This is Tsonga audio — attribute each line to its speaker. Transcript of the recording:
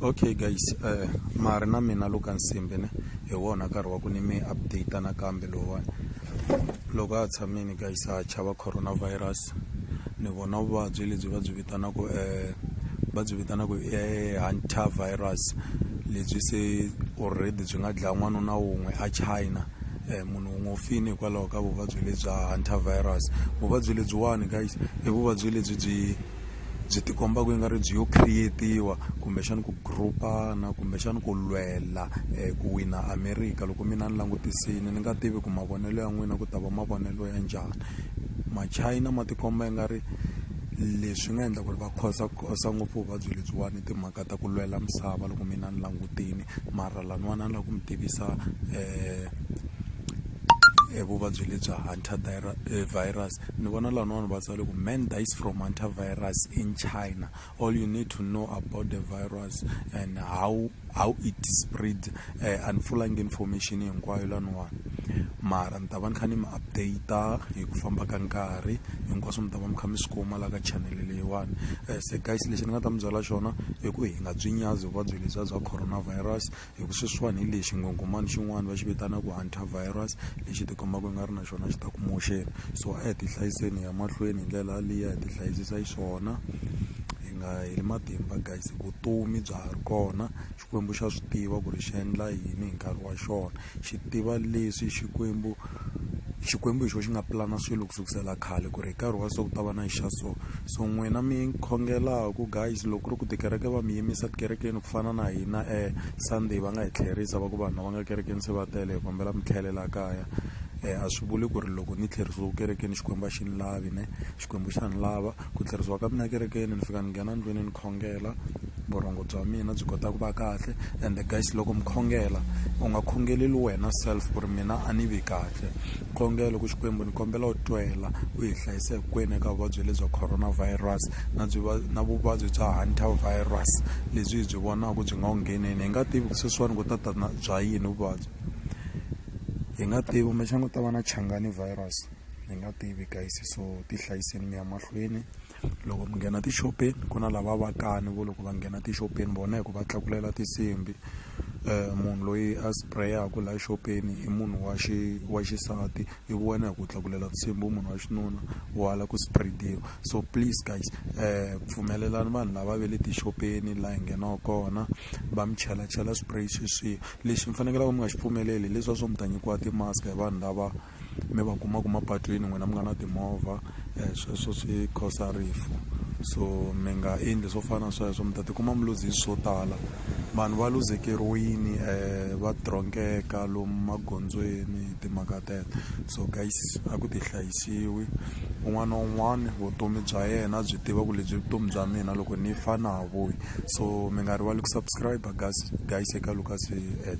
Speaker 1: okay guys uh, mari na mina lo ka nsimbi ne hi wona nkarhi wa ku ni mi update nakambe lowani loko a tshamini guys a chava coronavirus ni vona vuvabyi lebyi va byi vitanaka um eh, va byi vitanaka eh, hunter virus lebyi se already byi nga dlaya n'wana na wun'we a china um munhu wun'we u fini hikwalaho ka vuvabyi lebya hunter virus vuvabyi lebyiwani guys i vuvabyi lebyi byi byi ti komba ku ingari byi yo create-iwa kumbexana ku group-ana kumbexana ku lwela um ku wina america loko mina ni langutisile ni nga tivi ku mavonelo ya n'wina ku ta va mavonelo ya njhani machina ma tikomba i nga ri leswi nga endla ku ri va khosa khosa ngopfu vuvabyi lebyiwani timhaka ta ku lwela misava loko mina ni langutini mara laniwani a ni la ku mi tivisa um vuvabyi lebyi hunter virus Ni vona van'wana va tsale ku man dies from antivirus in China all you need to know about the virus and how how it spread uh, and fulanga information hinkwayo laniwani mara ni ta va ni kha ni mi update hi ku famba ka nkarhi hinkwaswo mi ta va mi kha mi swi kuma la ka channel leyiwani eh, se guys lexi ni nga ta mi byela xona i ku hi nga byi nyazi vuvabyi lebyiya bya coronavirus hi ku sweswiwani hi lexi nghonghomani xin'wana va xi vitanaka antivirus lexi tikombaka i nga ri na xona xi ta ku moxeni so a hi ti hlayiseni hi ya mahlweni hi ndlela yaliya hi ti hlayisisa hi swona hi nga heli matimba guys vutomi bya ha ri kona xikwembu xa swi tiva ku ri xi endla yini hi nkarhi wa xona xi tiva leswi xikwembu Xikwembu hi xona xi nga pulana swilo ku sukisela khale ku ri hi nkarhi wa so ku ta va na xa so so n'wina mi khongelaku guys loko ku ri ku tikereke va mi yimisa tikerekeni ku fana na hina Sunday va nga hi tlherisa va ku vanhu lava nga kerekeni se va tele hi kombela mi tlhelela kaya a swi vuli ku ri loko ni tlherisiwe kerekeni Xikwembu a xi ni lavi ne Xikwembu xa ni lava. ku tlherisiwa ka mina ekerekeni ni fika ni nghena ndlwini ni khongela vurhongo bya mina byi kota ku va kahle and guys loko mi khongela u nga khongeleli wena self ku ri mina a ni vi kahle khongelo ku xikwembu ni kombela u twela u hi hlayisa hinkwenu eka vuvabyi lebyi coronavirus na byi na vuvabyi bya hunter virus lebyi hi byi vonaka byi nga wu ngheneni hi nga tivi ku sweswiwani ku ta ta na bya yini vuvabyi hi nga tivi kumbexana ku ta va na changani virus ni nga tivi guys so ti hlayiseni mi ya mahlweni loko mi nghena tixopeni ku na lava vakani vo loko va nghena tixopeni vona hi ku va tlakulela tinsimbi um munhu loyi a sprayaku laha xopeni i munhu wa xi wa xisati i wena hi ku tlakulela tinsimbi u munhu wa xinuna wala ku spreadiwa so please guys um pfumelelani vanhu lava ve le tixopeni laha hi nghenaka kona va mi chela chela spray sweswiya lexi mi fanekelaka mi nga xi pfumeleli hileswiya swo mi ta nyikiwa timask hi vanhu lava mi va kumaku mapatwini n'wina mi nga na timovha um sweswo swi khosa rifu so mi nga endli swo fana na sweswo mi ta tikuma mi luzi hi swo tala vanhu va luzekeriwini um va dronkeka lomu magondzweni hi timhaka tete so guys a ku ti hlayisiwi un'wana na un'wana vutomi bya yena byi tiva ku lebyi vutomi bya mina loko ni fa na ha vuyi so mi nga rivali ku subscribe guys guys eka lucas at